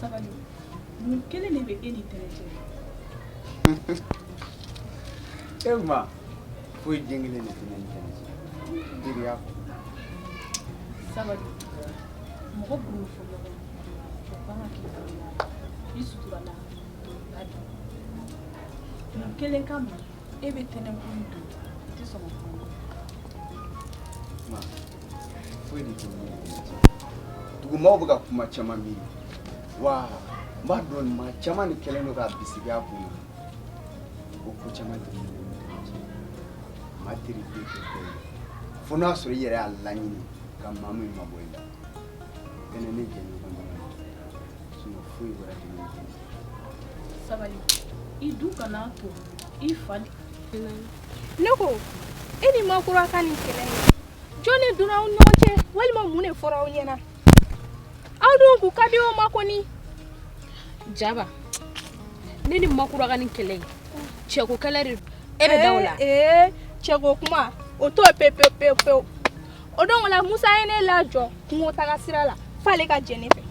sabali mun kelen de bɛ e ni tɛnɛ cɛ e ma foyi den kelen de tɛ ne ni tɛnɛ cɛ teriya kɔ sabali mɔgɔ bolo fɔ ɲɔgɔn o kan ka k'i bolo la i sutura la ba di mun kelen kama e bɛ tɛnɛ kun don i tɛ sɔn ka kuma ma Dugumaw bɛ ka kuma caman miiri wa n b'a dɔn nin maa caman de kɛlen don ka bisigi a kunna o ko caman maa teri fo n'a sɔrɔ i yɛrɛ y'a laɲini ka maa min mabɔ i la bɛn ne jɛ foyi sabali i dun kana to i fa ne ko e ni makura ka nin kɛlɛ jɔn de donna aw ɲɔgɔn cɛ walima mun de fɔra aw ɲɛna aw dun k'u ka di o ma kɔni jaba ne ni makura ka nin kɛlɛ ye cɛko kɛlɛ de e bɛ da o la ee cɛko kuma o to pewu pewu pewu pewu o don na musa ye ne lajɔ kungo taga sira la f'ale ka jɛ ne fɛ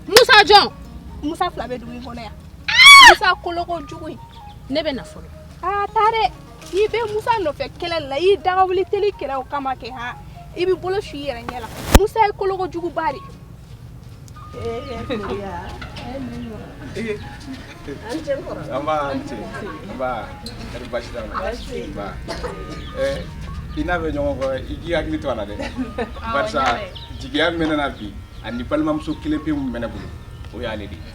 musa jɔn musa fila bɛ dugu in kɔnɔ yan musa koloko jugu in ne bɛ na fɔlɔ aa taa dɛ n'i bɛ musa nɔfɛ kɛlɛ la i daga wuli teli kɛla o kama kɛ ha i bɛ bolo su i yɛrɛ ɲɛ la musa ye koloko juguba de a ni ce kɔrɔ nba a ni ce nba kori baasi t'a la nba ɛɛ i n'a bɛ ɲɔgɔn kɔrɔ i k'i hakili to a la dɛ barisa jigiya min bɛ ne na bi ani balimamuso kelen pe min bɛ ne bolo o y'ale de ye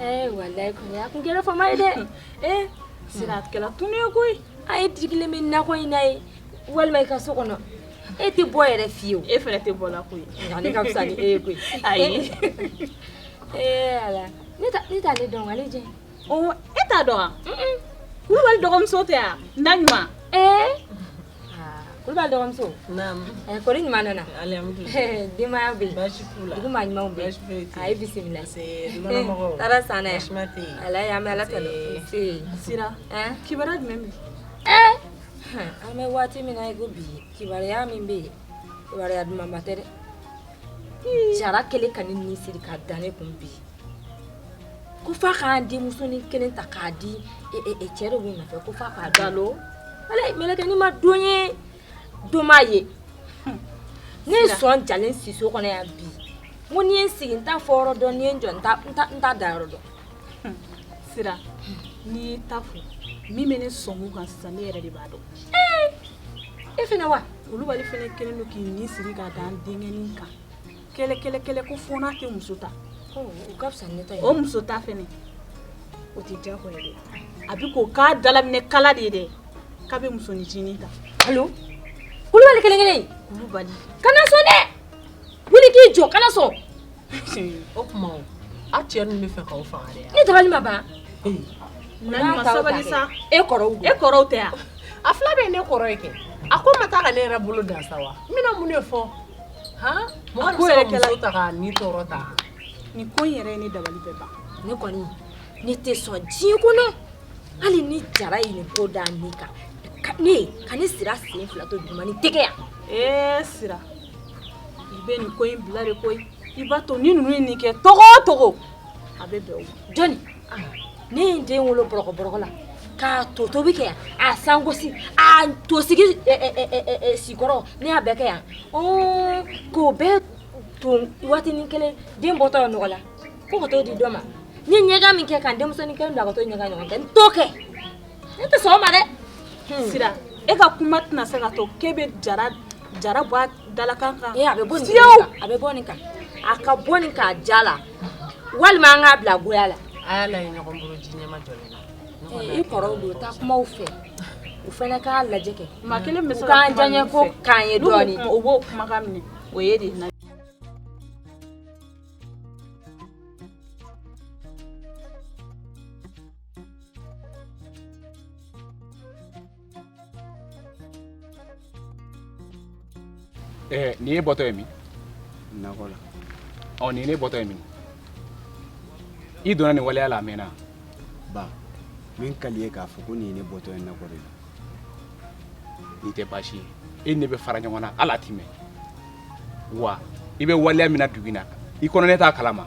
Eh, walayi kɔni a kun kɛra fama ye dɛ ee eh, sira a kɛra tunun ye koyi a ye digilen bɛ nakɔ in na yen walima i ka so kɔnɔ e tɛ bɔ yɛrɛ fiyewu e fana tɛ bɔ la koyi nka ne ka fisa ni e ye koyi ayi ee eh, ala ne t'ale dɔn ale jɛn ɔ e t'a dɔn wa kulubali dɔgɔmuso tɛ wa naɲuma ee Ah, kulubali dɔgɔmuso eh, kori i ɲuman nana eh, denbaya bɛ dugu maa ɲumanw bɛ a ye bisimila taara san dɛ ala y'an bɛ ala tanu sira kibaruya jumɛn bɛ eh! an bɛ waati min na i ko bi kibaruya min bɛ yen kibaruya dumanba tɛ dɛ jara kɛlen ka ne ni siri ka da ne kun bi ko f'a k'an denmusonin kelen ta k'a di e, e, e, cɛ de b'o nɔfɛ ko f'a k'a dalo ala mɛlɛkɛnin ma don ye don m'a ye ne ye sɔn jalen si so kɔnɔ yan bi n ko n'i ye n sigi n t'a fɔ yɔrɔ dɔn n'i ye n jɔ n ta n ta n t'a da yɔrɔ dɔn sira n'i y'i ta fɔ min bɛ ne sɔn kan sisan ne yɛrɛ de b'a dɔn e fana wa kulubali fana kɛlen don k'i ni siri ka da n denkɛnin kan kɛlɛ kɛlɛ kɛlɛ ko fo n'a tɛ muso ta o ka fisa ne ta ye o muso ta fɛnɛ o tɛ diyagoya dɛ a bɛ k'o k'a dalaminɛ kala de ye dɛ k'a bɛ musoninncinin ta alo kulubali kelen kelen kulubali kana sɔn dɛ wuli k'i jɔ kana sɔn o tuma o a cɛ ninnu bɛ fɛ k'aw faga dɛ ne dabali ma ban Naani ma sabali sa e kɔrɔw don e kɔrɔw tɛ yan a fila bɛɛ ye ne kɔrɔ ye kɛ a ko n ma taa ka ne yɛrɛ bolo dan sa wa n bɛna mun de fɔ nin ko in yɛrɛ ye ne dabali bɛɛ ban ne kɔni ne tɛ sɔn diɲɛ kɔnɔ hali ni jara ye nin ko da ne kan ka ne sira sen fila to duguma nin tɛ kɛ yan ee sira i bɛ nin ko in bila de koyi i b'a to ni ninnu ye nin kɛ cogo o cogo a bɛ bɛn o ma jɔni ne ye n den wolo bɔrɔkɔ bɔrɔkɔ la k'a to tobi kɛ yan a sangosi a to sigi sikɔrɔ ne y'a bɛɛ kɛ yan k'o bɛɛ ton waatinin kelen den bɔtɔ ye nɔgɔ la fo ka t'o di dɔ ma n ye ɲɛgan min kɛ ka n denmusonin kelen bila ka t'o ɲɛgan ɲɔgɔn kɛ n t'o kɛ ne tɛ sɔn o ma dɛ hmm. sira e ka kuma tɛna se ka to k'e bɛ jara bɔ a dalakan kan a bɛ bɔ nin kan a ka bɔ nin kan diya la walima an k'a bila goya la i kɔrɔw don taa kuma u fɛ u fana k'a lajɛ kɛ maa kelen bɛ se ka kuma min fɛ u k'an diyaɲɛ ko k'an ye dɔɔnin u b'o kumakan minɛ o ye dɛ Eh, nin y'e bɔtɔ ye min nakɔ la ɔ nin ye ne bɔtɔ ye min i donna nin waleya la a mɛnna ba min ka di i ye k'a fɔ ko nin ye ne bɔtɔ ye nakɔ de la nin tɛ baasi ye e ni ne bɛ fara ɲɔgɔn na hali a ti mɛn wa i bɛ waleya min na dugu in na i kɔnɔ ne t'a kalama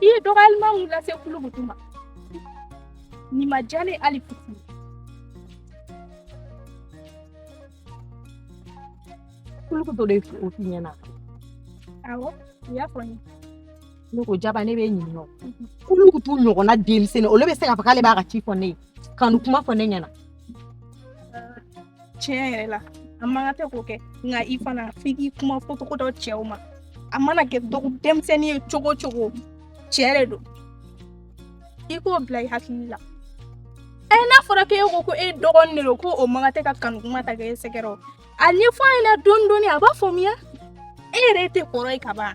i ye dɔgɔyalima min lase kulukutu ma nin ma diya n ye hali fitini kulukutu de y'o f'i ɲɛna awɔ a y'a fɔ n ye ne ko jaba ne b'e ɲininka o kulukutu ɲɔgɔnna denmisɛnnin olu bɛ se k'a fɔ k'ale b'a ka ci fɔ ne ye kanu kuma fɔ ne ɲɛna tiɲɛ yɛrɛ la a man kan tɛ k'o kɛ nka i fana f'i k'i kuma fɔ cogo dɔn cɛw ma a mana kɛ dɔgɔ denmisɛnnin ye cogo cogo cɛ de don i k'o bila i hakili la ɛ eh, n'a fɔra k'e ko ko e dɔgɔnin de don ko o man kan tɛ ka kanu kuma ta k'e sɛgɛrɛ o a ɲɛfɔ a ɲɛna dɔɔni dɔɔni a b'a faamuya e yɛrɛ tɛ kɔrɔ ye ka ban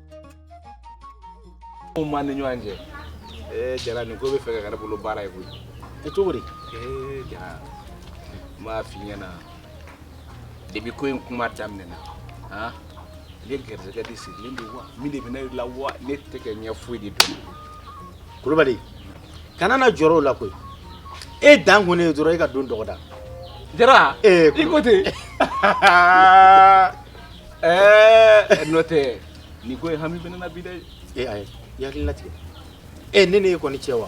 Mun b'an ni ɲɔgɔn cɛ ee jara nin ko bɛ fɛ ka kɛ ne bolo baara ye koyi e cogo di ee jara n b'a f'i ɲɛna depi ko in kuma daminɛna han ne garisɛgɛ de sirilen don wa mun de bɛ ne la wa ne tɛ ka ɲɛ foyi de dɔn kulubali kana na jɔrɔ o la koyi e dan kɔni ye dɔrɔn e ka don dɔgɔda jara ee i ko ten Ɛɛ n'o tɛ nin ko in hami bɛ ne na bi dɛ. Ee ayi i hakili latigɛ ee ne ni e kɔni cɛ wa.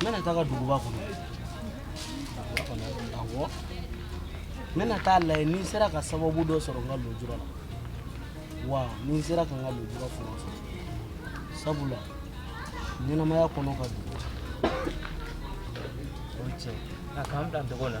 Mimi nataka dugu wako. Awo. Mimi nataka la ni sera ka sababu do sɔrɔ ngal do jura. Wa ni sera ka ngal do jura fo. Sabula. Ni na maya kono ka dugu. Oce. Na kam dan dogo na.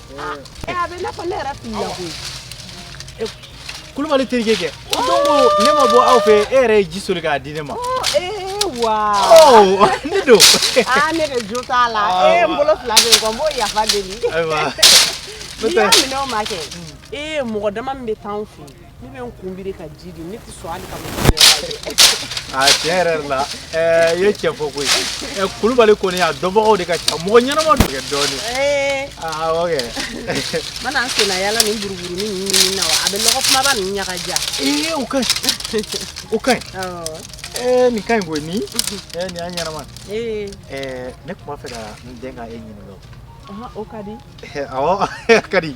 Ɛ a bɛ n'a fɔ ne yɛrɛ filila koyi. E Kulubali terikɛ kɛ. O don ko ne ma bɔ aw fɛ e yɛrɛ ye ji soli k'a di ne ma. Ɔ ee wa. Ɔ ne don. Aa ne de jo t'a la. Ee n bolo fila bɛ n kɔ n b'o yafa deli. Ayiwa. N'i y'a minɛ o ma kɛ. Ee mɔgɔ dama min bɛ taa anw fɛ yen. Ne bɛ n kun biri ka ji di ne tɛ sɔn hali ka a tigi ɲɛ yɛrɛ lajɛ i ye tiɲɛ fɔ koyi ɛ kulubali kɔni a dɔnbagaw de ka ca mɔgɔ ɲɛnama don kɛ dɔɔnin awɔ kɛ n mana n sennayaala nin buruburunin ninnu ɲini na wa a bɛ logomaba ninnu ɲagaja ee o ka ɲi o ka ɲi ee nin ka ɲi koyi nin ee nin y'a ɲɛnama ɛɛ ne tun b'a fɛ ka n den ka e ɲininka o ka di awɔ a ka di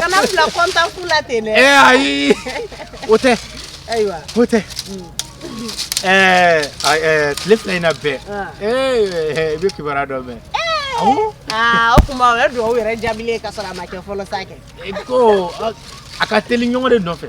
kana n bila kɔntan fu la ten dɛ ayi o tɛ ayiwa o tɛ tile fila in na bɛɛ i bɛ kibaruya dɔ mɛn o tuma o ye dugawu yɛrɛ jaabilen ka sɔrɔ a ma kɛ fɔlɔ sa kɛ ko a ka teli ɲɔgɔn de nɔfɛ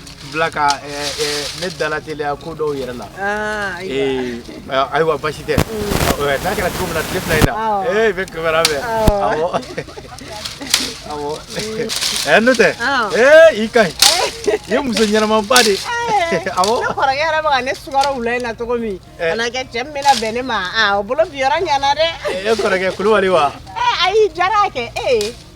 bila ka ne dalateliya ko dɔw yɛrɛ la ayiwa basi tɛ n'a kɛra cogo min na tile fila in na i bɛ kibaruya mɛn ɛ n'o tɛ ee i ka ɲi i ye muso ɲɛnamaba de awɔ ne kɔrɔkɛ yɛrɛ bɛ ka ne sukaro wula in na cogo min kana kɛ cɛ min bɛna bɛn ne ma o bolo bi yɔrɔ ɲana dɛ e kɔrɔkɛ kulubali wa ayi jara kɛ ee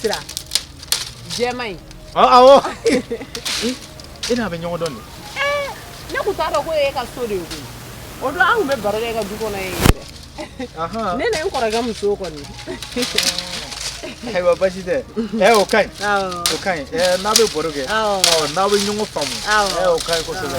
sira jɛma in awɔ e n'a bɛ ɲɔgɔn dɔn de ne tun t'a dɔn ko e ka so de ye koyi o don an tun bɛ baro kɛ e ka du kɔnɔ yen yɛrɛ ne ni n kɔrɔkɛ muso kɔni ayiwa basi tɛ ɛ o ka ɲi o ka ɲi n'a bɛ baro kɛ n'aw bɛ ɲɔgɔn faamu ɛ o ka ɲi kosɛbɛ